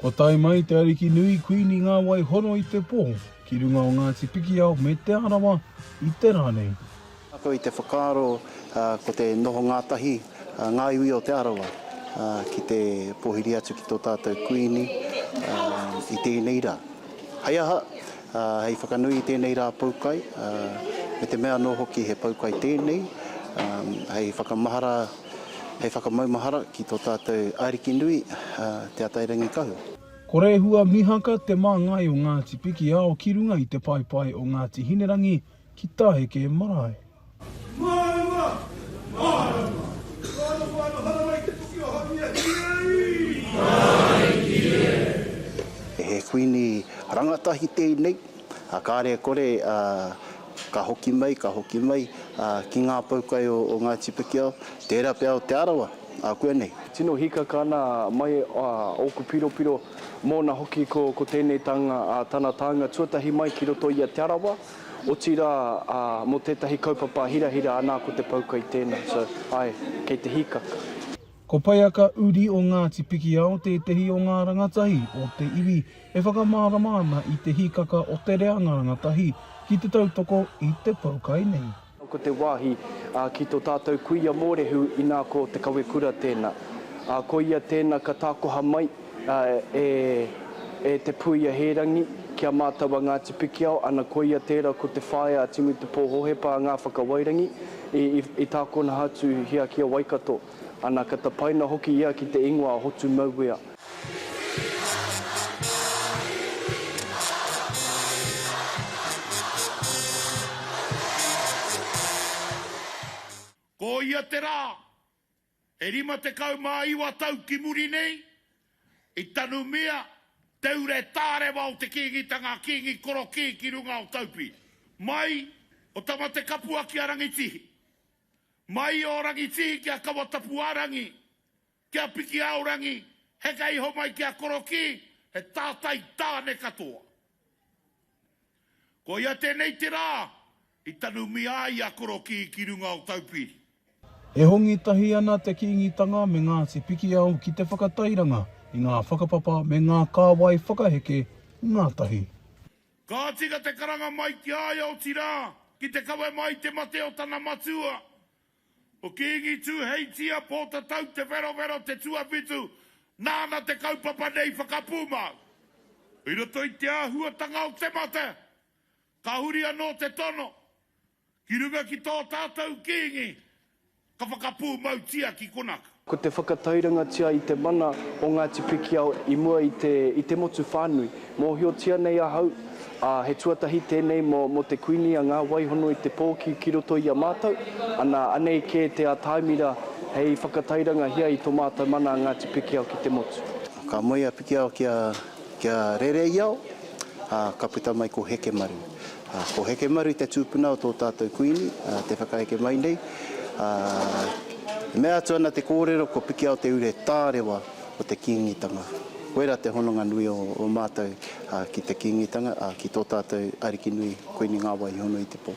Kua tae mai Te Ariki Nui Kuini Ngāwaihoro i te pō ki runga o Ngāti Pikiao me Te Arawa i te rā nei. Ako i te whakaaro ko te noho ngātahi a ngā iwi o Te Arawa ki te pōhiri atu ki tō tātou Kuini i tēnei rā. Hei aha, Hei whakanui i tēnei rā poukai, me te mea anō hoki he poukai tēnei, hei whakamahara, hei whakamaumahara ki tō tātou Ariki nui, Te Atairangikahu. Ko Rehua Mihaka te māngai o Ngāti Pikiao ki runga i te paepae o Ngāti Hinerangi ki Tāheke marae. Mārama! Mārama! Whānau, whānau, hara mai te toki o Haumia Hīrei! Hai Hīrei! He Kuini rangatahi tēnei, a kāre kore a ka hoki mai, ka hoki mai a ki ngā poukai o o Ngāti Pikiao, tēra pea o Te Arawa a kua nei. Tino hikaka ana mai a ōku piropiro mōna hoki ko ko tēnei tānga a tana tānga tuatahi mai ki roto i a Te Arawa. Otirā, ā, mō tētahi kaupapa hirahira anā ko te poukai tēnā. So, āe, kei te hīkaka. Ko Paiaka Uri o Ngāti Pikiao tētehi o ngā rangatahi o te iwi e whakamārama ana i te hīkaka o te reanga rangatahi ki te tautoko i te poukai nei. Ko te wāhi ki tō tātou kuia Mōrehu inā ko Te Kawekura tēnā. Ko ia tēnā ka tākoha mai e Te Puia Hērangi ki a mātou a Ngāti Pikiao, ana koia tērā ko te whaea a Timu Te Pō Hohepa a Ngā Whakawairangi i tākonaha atu hia ki a Waikato, ana ka tapaina hoki ia ki te ingoa a Hotu Mauea. Ko ia te rā, e rima tekau mā iwa tau ki muri nei, i tanumia te ure tārewa o te Kīngitanga a Kīngi Korokī ki runga o Taupī. Mai o Tamatekapua ki a Rangitihi. Mai o Rangitihi ki a Kawatapuarangi, Ki a Piki Aorangi, heke iho mai ki a Korokī, he tātai tāne katoa. Koia tēnei te rā i tanumia ai a Korokī ki runga o Taupiri. E hongi tahi ana te Kīngitanga me Ngāti Pikiao ki te whakatairanga i ngā whakapapa me ngā kāwai whakaheke ngātahi. Ka tika te karanga mai ki a ia, otirā, ki te kawe mai te mate o tana matua, Ko Kīngi Tūheitia Pōtatau Te Wherowhero te tuawhitu, nāna te kaupapa nei whakapūmau. I roto i te āhuatanga o te mate, ka huri anō te tono, ki runga ki tō tātou Kīngi, ka whakapūmautia ki konaka. Ko te whakatairangatia i te mana o Ngāti Pikiao i mua i te, i te motu whānui. Mōhiotia nei ahau, ā, he tuatahi tēnei mō, mō te Kuini a Ngā Waihono i te pō ki, ki roto i a mātou, ana, anei kē te ātaimira hei whakatairangahia i tō mātou mana a Ngāti Pikiao ki te motu. Ka moe a Pikiao ki a, ki a Rēreiao, ā, ka puta mai ko Hekemaru. Ko Hekemaru te tūpuna o tō tātou Kuini, te whakaeke mai nei. E mea atu ana te kōrero ko Pikiaoteure he tārewa o te Kīngitanga. Koirā te hononga nui o mātou ki te Kīngitanga, ki tō tātou Ariki nui, Kuini Ngāwaihonoitepō.